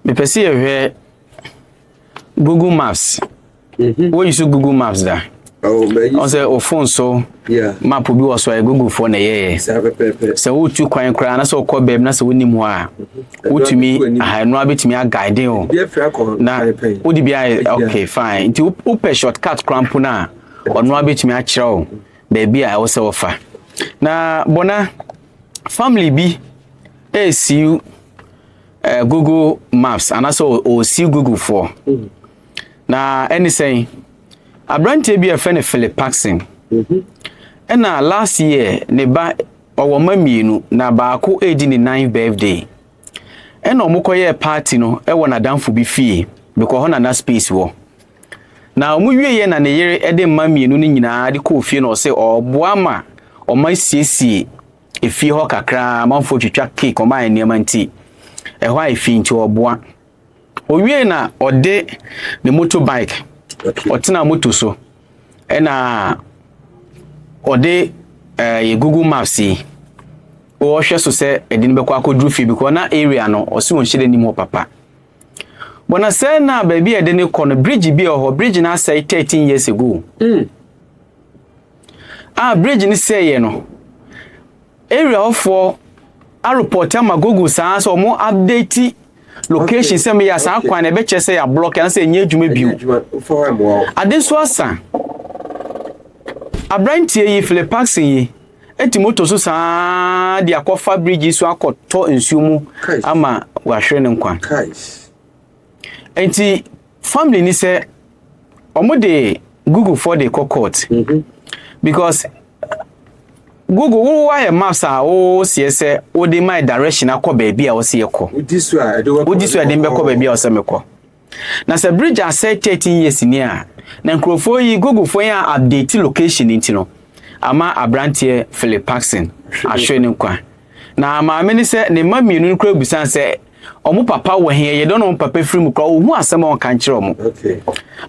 mepɛ sɛ yɛhwɛ google maps mhm. woyi so google maps da oh, ɔsɛ wo phone so map bi wɔ so a googlefoɔ na ɛyɛyɛ sɛ wotu kwan koraa na sɛ wokɔ baabi na sɛ wonim hɔ a mhm. wotumi ɛnoa bɛtumi aguide wo na wode bi ayɛ ok fine nti wopɛ shortcut koraa mpo no a ɔnoa bɛtumi akyerɛ wo baabi a ɛwɔ sɛ wɔfa na bɔna family bi ɛresiw eh, google maps anaasɛ ɔsi google foɔ mm. na ɛne sɛn aberanteɛ bi a ɛfɛ no philip paxson mhm. ɛna last year ne ba ɔwɔ mma mmienu na baako redi ne ninth birthday ɛna wɔn kɔyɛɛ party no ɛwɔ n'adanfo bi fie bɛkɔ hɔ na na space wɔ na wɔn wieɛ na ne yere de mma mmienu no nyinaa de kɔɔ fie na ɔsɛ ɔboa ma wɔn asiesie efie hɔ kakraa amanfoɔ twitwa cake wɔn ayɛ nneɛma nti ɛhɔ ayɛ fi nti ɔboa owie na ɔde ne moto bike ɔtena moto so ɛna ɔde ɛɛ eh, yɛ google maps yi wɔhwɛ so sɛ ɛde no bɛkɔ akɔduru fie bi kɔ na area no ɔsi wɔn hyɛ n'anim hɔ papa bɔnna sɛ na baabi a ɛde no kɔ no bridge bi wɔ hɔ bridge no asɛe thirteen years ago. Mm. A bridge no sɛeɛ no, area hɔfoɔ arepɔte ama Google saa sɛ wɔn update location sɛ meyɛ saa kwan na ɛbɛkyɛ sɛ yɛ ablɔk anasɛ ɛnyɛ adwuma bio ade nso asa aberanteɛ yi Philip Paxson yi ɛti moto so saa de akɔfa bridge so akɔtɔ nsuo mu ama wahwere ne nkwa Nti family ni sɛ wɔn de google foɔ de kɔ court mhm. because google wo wayɛ maps a wo seɛ sɛ wo de my direction akɔ baabi a wɔsi ɛkɔ wodi so a ɛde mbɛkɔ baabi a wɔsɛ mekɔ na sɛ bridge asɛ thirteen years ni a na nkurɔfoɔ yi google foɔ yɛn a update location nti no ama aberanteɛ philip paxson ahwɛ ne nkwa na maame ne sɛ ne mma mmienu no kura busan sɛ Ɔmo papa wɔ he? Yɛyɛ dɔn na ɔmo papa firi mu koraa ohu asɛm a ɔnka nkyerɛ ɔmo.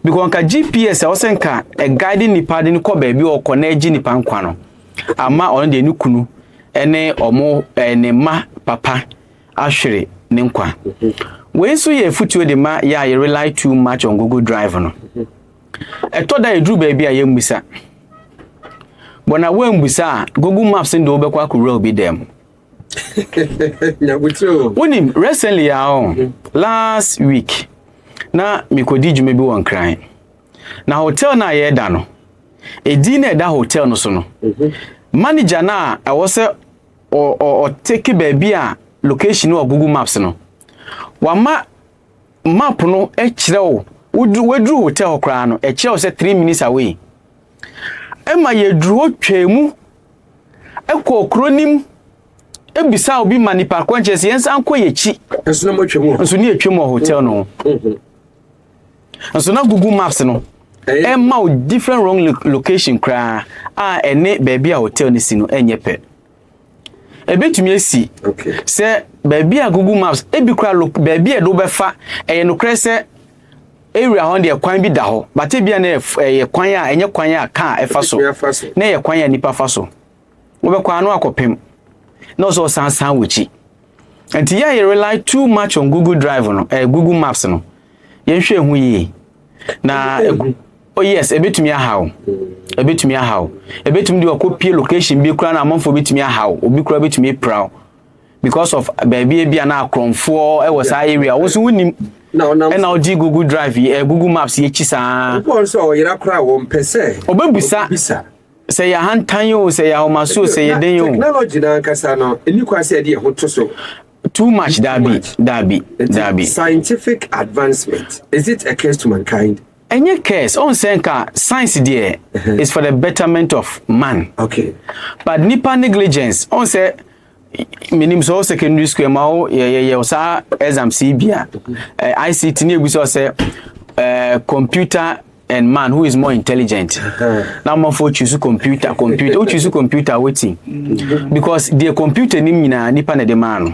Because nka GPS a ɔsɛ nka ɛguide nipa de no kɔ baabi a ɔkɔ na ɛgye nipa nkwa no. Ama ɔno deɛ ne kunu ɛne ɔmo ɛɛ ne mma papa ahwere ne nkwa. Wei nso yɛ afutuo de ma yɛ a yɛ rely too much on Google Drive no. Ɛtɔ da yɛduru baabi a yɛmmisa. Bɔ na woammisa a Google Maps no de wobɛkɔ akɔwura obi dan mu. wonim recently a ɔ oh, last week na mekɔdi dwuma bi wɔ nkran na hotel no a yɛda no ɛdin na ɛda hotel no so no mhm. manager no a ɛwɔ sɛ ɔteke baabi a location no wɔ google maps no wama map no kyerɛ wo waduru hotel koraa no ɛkyerɛ wo sɛ three minutes away ɛma yɛduru hɔ twaa mu Ɛkɔɔ kuro no mu ebisaa obi ma nipa koro nkyɛn sɛ yɛn nsa nkɔ yɛn akyi. Nso na mo atwam hɔ. Nso ne atwam wɔ hotel no ho. Mhm. Nso na Google Maps no ɛma eh? o different wrong location koraa a ɛne baabi a hotel no si no ɛnyɛ pɛ. Ebetumi esi sɛ baabi a Google Maps ebi koraa baabi a ɛde wobɛfa ɛyɛ nokorɛ sɛ Area hɔ no deɛ kwan bi da hɔ but ebia na ɛyɛ kwan a ɛnyɛ kwan a kaa ɛfa so na ɛyɛ kwan a nipa fa so wobɛkɔ ano akɔpem na ɔsɛ ɔsan san w'akyi nti yɛ yɛ rely too much on google drive no eh, google maps no yɛnhwɛ ho yie na oh yes ebetumi ahaw ebetumi ahaw ebetumi de ɔkɔ pie location bi kura na amanfoɔ betumi ahaw obi kura betumi apiraw because of baabi ebi a na akorɔmfoɔ wɔ saa area wɔn nso wonim ɛna ɔgye google drive yi eh, google maps yɛ akyi saa. ɔbɔ nso a ɔyera koraa wɔn pɛ sɛ. ɔbɛbisa sɛ yɛ ahantan o sɛ yɛ ahomaso sɛ yɛ den o. technology na ankasa no ɛni kwan sɛ ɛde ɛho to so. too much dabi dabi dabi. scientific advancement is it a curse to mankind. ɛnyɛ curse ɔn sɛ nka science deɛ uh-huh. is for the betterment of man. okay but nipa negligence ɔn sɛ. menim sɛ wo secondary school ma wo yɛyɛyɛ saa exams yi bi a ict ne ɛbu sɛ sɛ computer and man who is more intelligent na amanfoɔ choose computer computer wo choose computer wetin because deɛ computer nim nyinaa nipa na ɛde maa no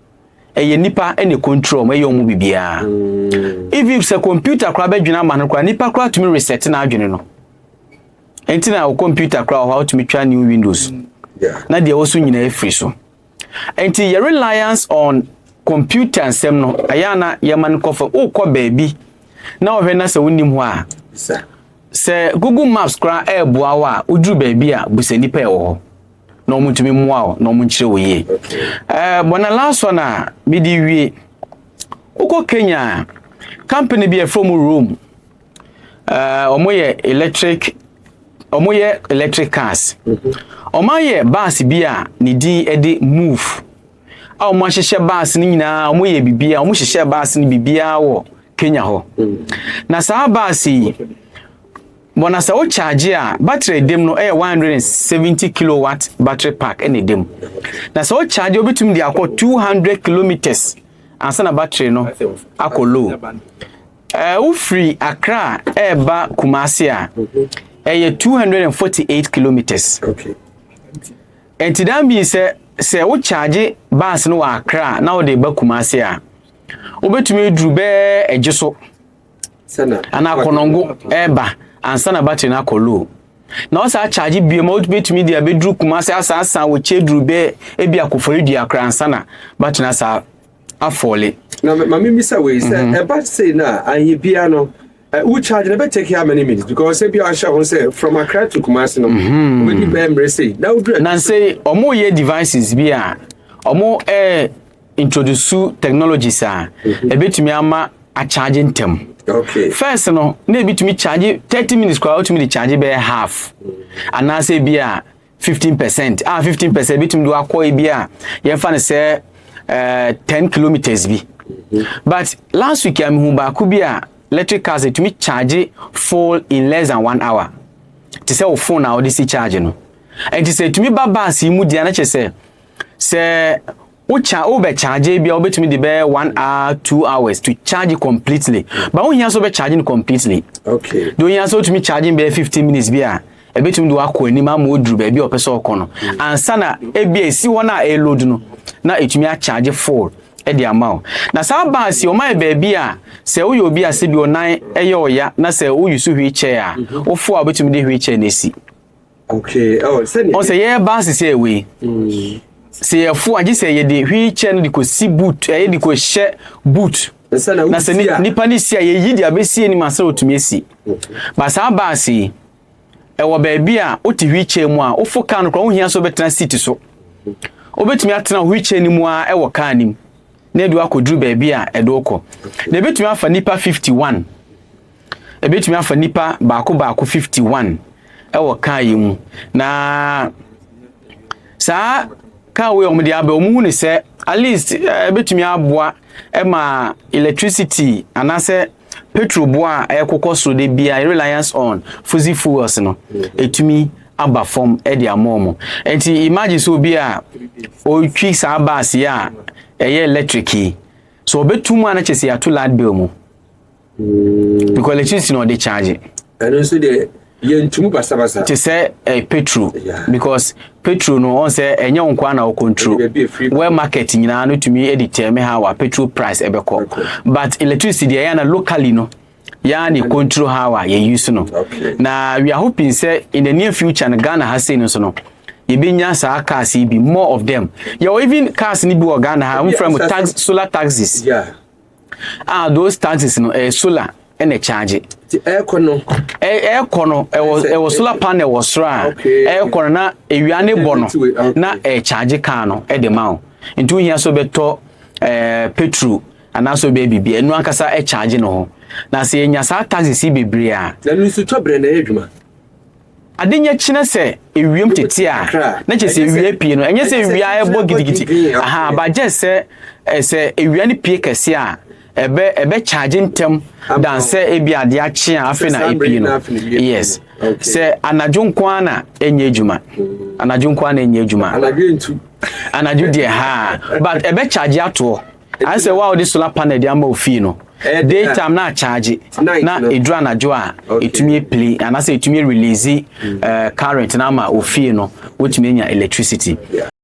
ɛyɛ nipa na ɛkɔntrol mu ɛyɛ wɔn mu biribiara mm. even if sɛ computer koraa bɛdwene ama no koraa nipa koraa tumi reset n'adwene no ɛnti na wɔ computer koraa wɔ hɔ a wotumi twa new windows mm. na deɛ ɛwɔ so nyinaa afiri so ɛnti yɛ reliance on computer nsɛm no ɛyɛ ana yɛma no kɔfa wokɔ baabi na wɔhwɛ na sɛ wonim hɔ a sɛ google maps koraa ɛreboa wo a woduru baabi a busa nipa ɛwɔ hɔ na wɔn ntumi mmoa wo na wɔn nkyerɛ wo yie ɛɛ bɔ na last one a mede wie wokɔ kenya company bi a ɛfrɛ mu rome ɛɛ wɔn yɛ electric wɔn yɛ electric cars wɔn ayɛ bus bi a ne din ɛde move a wɔn ahyehyɛ bus no nyinaa wɔn yɛ biribiara wɔn hyehyɛ bus no biribiara wɔ kenya hɔ na saa bus yi. Bɔ na sɛ wo charge a battery a ɛdam no yɛ 170 kilowatt battery pack na ɛdam. Na sɛ wo charge wobɛtumi de akɔ 200 kilometers ansa na battery no akɔ low. Eh, wofiri Accra ɛreba Kumasi a ɛyɛ 248 kilometers. Ɛnti daa mii sɛ sɛ wo charge bus no wɔ Accra na wode ba Kumasi a wobɛtumi aduru bɛɛ agye so. anaa akɔnɔngo ɛreba ansa na battery no akɔ low na ɔsɛ akyagye bio ma wobɛtumi de abɛduru kuma sɛ asan asan wɔ kyɛ duru bɛ ebi akofori dua koraa ansa na battery no asa afɔle na ma memisa wei sɛ mhm. ɛba sei no a anyɛ bia no wo charge na bɛtake how many minutes because sɛ bia ahyɛ ho sɛ from akra to kumase no mhm. wobɛdi bɛɛ mmerɛ sei na wodura na sɛ ɔmoyɛ devices bi a ɔmo eh, introdusu technologies a ɛbɛtumi ama akyagye ntɛm. Fɛs no na ebi tumi kyagye thirty minutes koraa wotumi de kyagye bɛyɛ half anaasɛ ebi a fifteen percent a ah, fifteen percent ebitumi de wakɔ ebi a yɛmfa no sɛ ɛɛ eh, ten kilometres bi. But last week a mehu baako bi a electric cars etumi kyagye full in less than one hour te sɛ wo phone a wɔde si kyagye no. Nti sɛ etumi ba baasi mu deɛ na kyerɛ sɛ. sɛ wo cha wo bɛ charge bia wobɛtumi de bɛyɛ one hour two hours to charge completely ba wo hia so bɛ charge no completely okay de ohia so wotumi charge bɛyɛ fifteen minutes bi a ɛbɛtumi de wakɔ anim ama oduru baabi a ɔpɛ sɛ ɔkɔ no hmm. ansa na ebi a esi hɔ no a ɛload no na etumi acharge full ɛde ama wo na saa baasi wɔn ayɛ baabi a sɛ woyɛ obi a sɛ bi ɔnan ɛyɛ ɔya na sɛ woyi so wheelchair a hmm. wofo a wobɛtumi de wheelchair na esi. Okay. Oh, sɛdeɛ. Ɔsɛ yɛ ba sisi ɛwɔ yi. Mm. Sɛ yɛ fo agye sɛ yɛ de hwi kyɛ no de ko si boot ɛyɛ de ko hyɛ boot. Na sɛ nipa ne si a yɛ yi de abɛsi anim asɛ otumi esi. Ba saa baasi yi ɛwɔ baabi a wote hwi kyɛ mu a wofo kaa no kora wohia so bɛtena seat so. Wobɛtumi atena hwi kyɛ no mu a ɛwɔ kaa nim na ɛde wakɔduru baabi a ɛde wokɔ. Na ɛbɛtumi afa nipa 51. Ebetumi afa nnipa baako baako 51 wɔ kaa yi mu, na saa kaa wei a wɔde aba wɔn hu ne sɛ at least eh, ebetumi aboa ma electricity anaasɛ petrol boa a ɛkokɔ so de bia reliance on fossil fuels no etumi aba fam de ama wɔn nti imagine sɛ obi a ɔretwi saa baase a ɛyɛ electric yi so ɔbɛtum a na kyɛ sɛ yɛato light bill mu mm. because electricity na ɔde charge ɛno nso deɛ yɛntumi basabasa te sɛ eh, petro yeah. because petro no ɔn sɛ ɛnyɛ wo nkoa na control. wɛ market nyinaa no tumi de tɛme ha wa petro price ɛbɛkɔ but electricity deɛ ɛyɛ na locally no yɛa ne control ha wa yɛ use no okay. na we are hoping sɛ in the near future no ghana ha sei no so no yɛbɛnya saa cars yi bi more of them yɛwɔ even cars no bi wɔ ghana ha mfrɛ mu tax, solar taxis yeah. Ah, those taxis no ɛyɛ eh, solar ɛna ɛkyaagye. Ti ɛɛkɔ no. Ɛɛ ɛɛkɔ no ɛwɔ ɛwɔ solar panel wɔ soro a ɛɛkɔ no na ewia ne bɔ no na ɛɛkyaagye kaa no ɛde ma o. Nti ohia so bɛtɔ ɛɛ eh, petrol anaasɛ ɔbɛyɛ biribi ɛnu ankasa ɛkyaagye no ho. Na sɛ yɛnya saa taxis yi bebree a. Na nusu tɔ brɛ na ɛyɛ adwuma. Ade nya kyina sɛ ewiem tete a, na kyerɛ sɛ ewia apue no. Ɛnyɛ sɛ ewia a ɛbɔ gidigidi, aha, but just sɛ eh, sɛ ewia no pue kɛse a, ɛbɛ ɛbɛ charge ntɛm dan sɛ ebi ade akye a afei na epue no. Yes, sɛ anadwo nko ara na ɛnyɛ adwuma, anadwo nko ara na ɛnyɛ adwuma. Anadwo deɛ haa, but ɛbɛ charge atoɔ. ayɛ sɛ wo a wode solar panel de ama wo fie no daytime na akyagye na ɛduru anadwo a ɛtumi apili anaasɛ ɛtumi release eh, current na ama wo fie no wotumi anya electricity